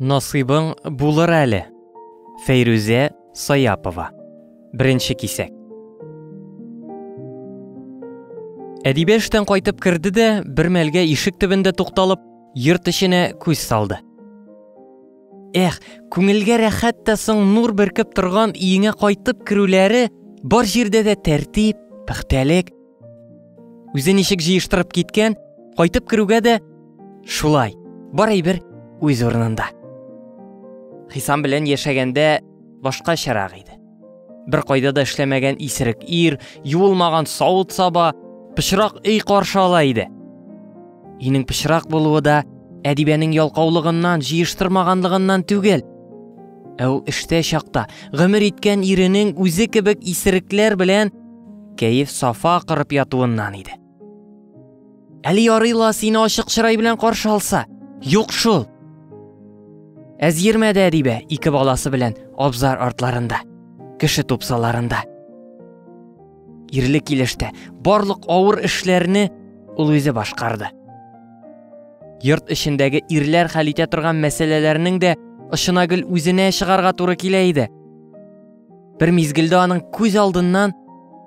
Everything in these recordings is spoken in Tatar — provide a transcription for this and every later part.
Насыйбың булыр әле. Фәйрүзә Саяпова. Беренче кисәк. Әдибә эштән кайтып керде дә, бер мәлгә ишек төбендә тукталып, йорт эченә күз салды. Эх, күңелгә рәхәт тә соң нур беркеп торган өеңә кайтып керүләре, бар җирдә дә тәртип, пөхтәлек, Үзе ничек җыештырып киткән, кайтып керүгә дә шулай. Бар әйбер үз урынында. Хисам белән яшәгәндә башка чарак иде. Бер кайда да эшләмәгән исерек ир, юылмаган савыт саба, пычрак өй каршы ала иде. Өйнең пычрак булуы да әдибәнең ялкаулыгыннан, җыештырмаганлыгыннан түгел. Ә ул эштә чакта гомер иткән иренең үзе кебек исерекләр белән Кәеф сафа акырып ятуыннан иде. Әле ярый ла сине ачык чырай белән каршы алса. Юк шул. Әзгермәде Әдибә ике баласы белән абзар артларында, кеше тупсаларында. Ирле килештә барлык авыр эшләрне ул үзе башкарды. Йорт эчендәге ирләр хәл итә торган мәсьәләләрнең дә очына гел үзенә чыгарга туры килә иде. Бер мизгелдә аның күз алдыннан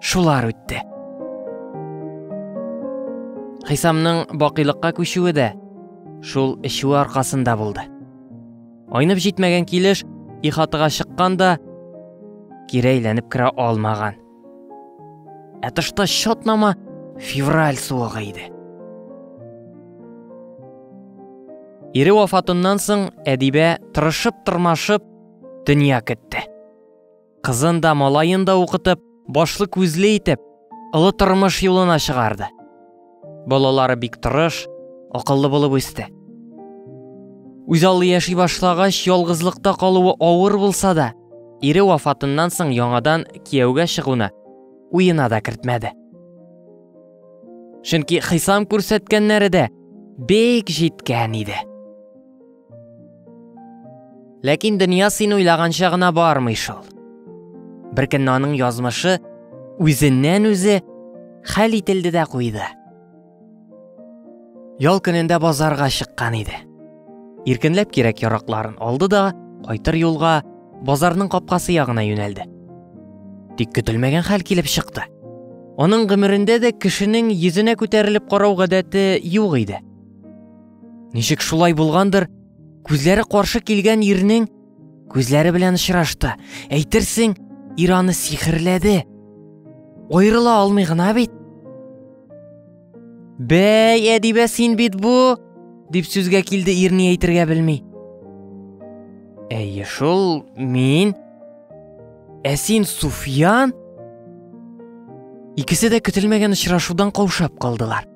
шулар үтте. Хисамның бакыйлыкка күчүе дә шул эчүе аркасында булды. Айнып җитмәгән килеш ихатыга чыккан да кире әйләнеп керә алмаган. Ә тышта чатнама февраль суыгы иде. Ире вафатыннан соң Әдибә тырышып-тырмашып дөнья көтте. Кызын да, малаен да укытып, башлы күзле итеп, олы тормыш юлына чыгарды. Балалары бик тырыш, акыллы булып үсте. Үзаллы яши башлагач, ялгызлыкта калуы авыр булса да, ире вафатыннан соң яңадан кияүгә чыгуны уена да кертмәде. Чөнки хисам күрсәткәннәре дә бик җиткән иде. Ләкин дөнья син уйлаганча гына бармый шул. Беркөнне аның язмышы үзеннән үзе хәл ителде дә куйды. Ял көнендә базарга чыккан иде. Иркенләп кирәк яракларын алды да, кайтыр юлга базарның капкасы ягына юнәлде. Тик көтелмәгән хәл килеп чыкты. Аның гомерендә дә кешенең йөзенә күтәрелеп карау гадәте юк иде. Ничек шулай булгандыр, күзләре каршы килгән ирнең күзләре белән очрашты. Әйтерсең, ир аны сихерләде. Аерыла алмый гына бит. Бәй, әдибә син бит бу, дип сүзгә килде ирне әйтергә белми. Әйе, шул мин. Ә син Суфиян? Икесе дә көтелмәгән очрашудан каушап калдылар.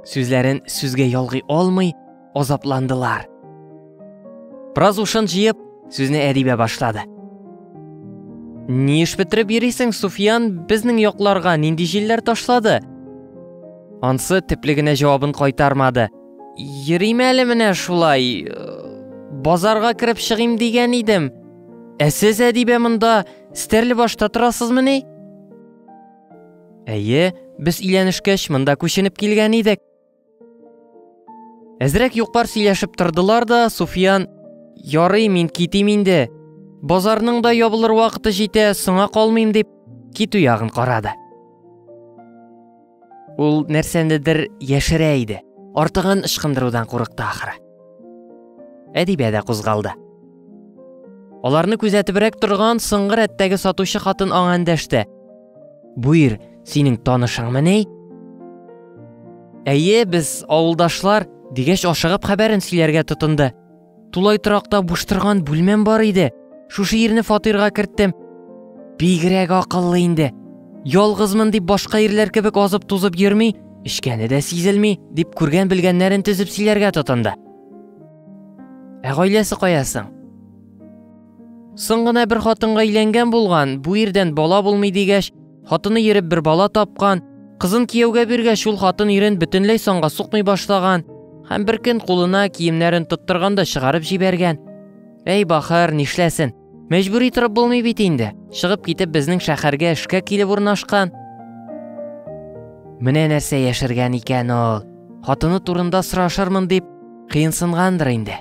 Сүзләрен сүзгә ялгый алмый, азапландылар. Браз ушын җыеп, сүзне әдибә башлады. Ни эш бетереп йөрисең, Суфиян, безнең якларга нинди җилләр ташлады? Ансы типлегенә җавабын кайтармады. Йөрим әле менә шулай. Базарга кереп чыгыйм дигән идем. Ә сез әдибә монда стерле башта торасызмыни? Әйе, без өйләнешкәч монда күченеп килгән идек. Әзрәк юкпар сөйләшеп тордылар да, Суфиян, ярый мин китим инде. Базарның да ябылыр вакыты җитә, соңа калмыйм дип, китү ягын карады. Ул нәрсәнедер яшерә иде. Артыгын ычкындырудан курыкты ахыры. Әдибә дә кузгалды. Аларны күзәтебрәк торган соңгы рәттәге сатучы хатын аңа эндәште. Буир, синең танышыңмы ни? Әйе, без авылдашлар, дигәч ашыгып хәбәрен сөйләргә тотынды. Тулай торакта буш торган бүлмәм бар иде. Шушы ирне фатирга керттем. Бигрәк акыллы инде. Ялгызмын дип башка ирләр кебек азып-тузып йөрми, Эчкәне дә сизелми, дип күргән-белгәннәрен төзеп сөйләргә тотынды. Ә гаиләсе кая соң? Соң гына бер хатынга өйләнгән булган, бу ирдән бала булмый дигәч, хатыны йөреп бер бала тапкан, кызын кияүгә биргәч, шул хатын ирен бөтенләй санга сукмый башлаган һәм бер көн кулына киемнәрен тоттырганда чыгарып җибәргән. Әй бахыр, нишләсен? Мәҗбүри торып булмый бит инде. Чыгып китеп безнең шәһәргә эшкә килеп урнашкан. Менә нәрсә яшергән икән ул. Хатыны турында сорашырмын дип кыенсынгандыр инде.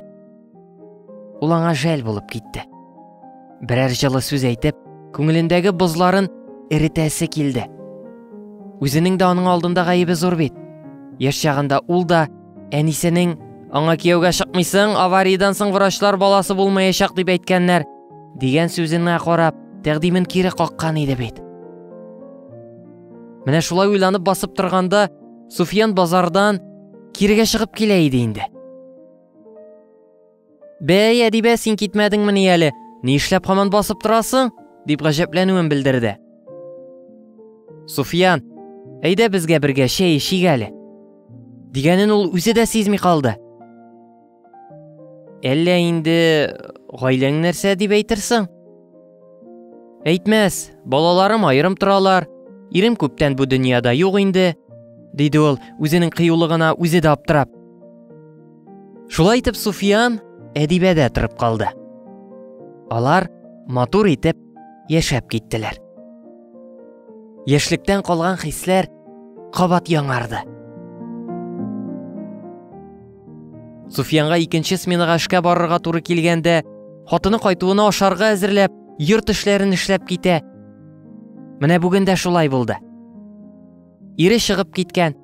Ул аңа жәл булып китте. Берәр җылы сүз әйтеп, күңелендәге бозларын эретәсе килде. Үзенең дә аның алдында гаебе зур бит. Яшь чагында ул да Әнисенең Аңа кияүгә чыкмыйсың, авариядән соң врачлар баласы булмаячак дип әйткәннәр, дигән сүзенә карап, тәкъдимен кире каккан иде бит. Менә шулай уйланып басып торганда, Суфиян базардан кирегә чыгып килә иде инде. Бәй, Әдибә, син китмәдеңмени әле? Ни эшләп һаман басып торасың? дип гаҗәпләнүен белдерде. Суфиян, әйдә безгә бергә чәй эчик әле. Дигәнен ул үзе дә сизми калды. Әллә инде гаиләң нәрсә дип әйтерсең? Әйтмәс, балаларым аерым торалар. Ирем күптән бу дөньяда юк инде, диде ул, үзенең кыюлыгына үзе дә аптырап. Шулай итеп Суфиян әдибә дә торып калды. Алар матур итеп яшәп киттеләр. Яшьлектән калган хисләр кабат яңарды. Суфиянга икенче сменага эшкә барырга туры килгәндә, хатыны кайтуына ашарга әзерләп, йорт эшләрен эшләп китә. Менә бүген дә шулай булды. Ире чыгып киткән.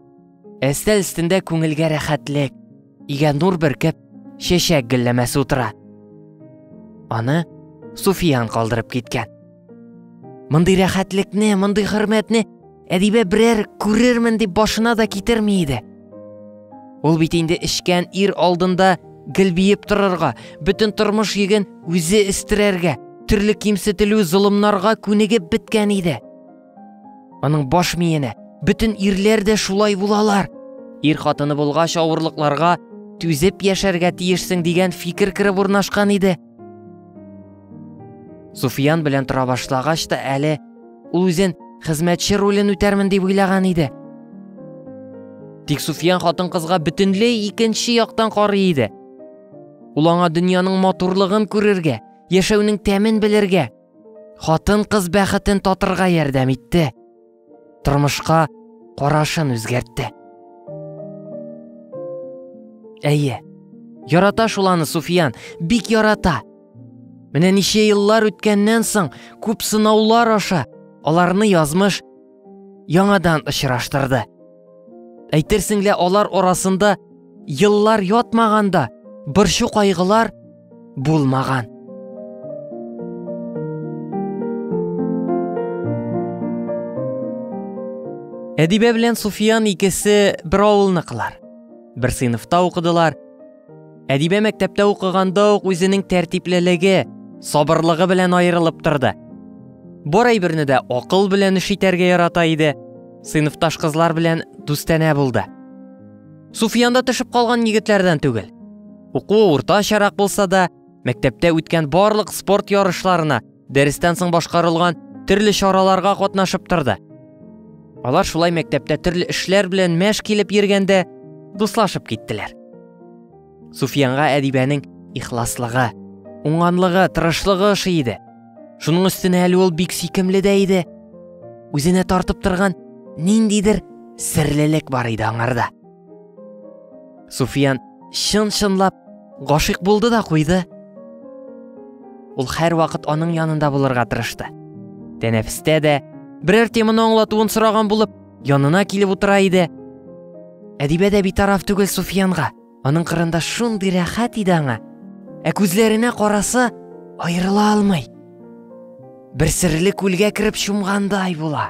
Әстәл өстендә күңелгә рәхәтлек, игә нур бөркеп, чәчәк гөлләмәсе утыра. Аны Суфиян калдырып киткән. Мондый рәхәтлекне, мондый хөрмәтне әдибә берәр күрермен дип башына да китерми иде. Ул бит инде эчкән ир алдында гел биеп торырга, бөтен тормыш йөген үзе өстерәргә, төрле кимсетелү, золымнарга күнегеп беткән иде. Аның баш миенә, бөтен ирләр дә шулай булалар. Ир хатыны булгач авырлыкларга түзеп яшәргә тиешсең дигән фикер кереп урнашкан иде. Суфиян белән тора башлагач та әле ул үзен хезмәтче ролен үтәрмен дип уйлаган иде. Тик Суфиян хатын-кызга бөтенләй икенче яктан карый иде. Ул аңа дөньяның матурлыгын күрергә, яшәүнең тәмен белергә, Хатын-кыз бәхетен татырга ярдәм итте. Тормышка карашын үзгәртте. Әйе. Ярата шул аны Суфиян, бик ярата. Менә ничә еллар үткәннән соң, күп сынаулар аша, аларны язмыш яңадан очраштырды. Әйтерсең лә алар арасында еллар ятмаганда борчу кайгылар булмаган. Әдибә белән Суфиян икесе бер авылныкылар. Бер сыйныфта укыдылар, Әдибә мәктәптә укыганда ук үзенең тәртиплелеге, сабырлыгы белән аерылып торды. Бар әйберне дә акыл белән эш итәргә ярата иде. Сыйныфташ кызлар белән дустанә булды. Суфиян төшеп калган егетләрдән түгел. Укуы уртачарак булса да, мәктәптә үткән барлык спорт ярышларына Дәрестән соң башкарылган төрле чараларга катнашып торды. Алар шулай мәктәптә төрле эшләр белән мәш килеп йөргәндә дуслашып киттеләр. Суфиянга Әдибәнең ихласлыгы, уңганлыгы, тырышлыгы ошый иде. Шуның өстенә әле ул бик сөйкемле дә иде. Үзенә тартып торган ниндидер серлелек бар иде аңарда. Суфиян чын-чынлап гашыйк булды да куйды. Ул һәр вакыт аның янында булырга тырышты. Тәнәфестә дә берәр теманы аңлатуын сораган булып, янына килеп утыра иде. Әдибә дә битараф түгел Суфиянга. Аның кырында шундый рәхәт иде аңа. Ә күзләренә караса, аерыла алмый. Бер серле күлгә кереп чумгандай була.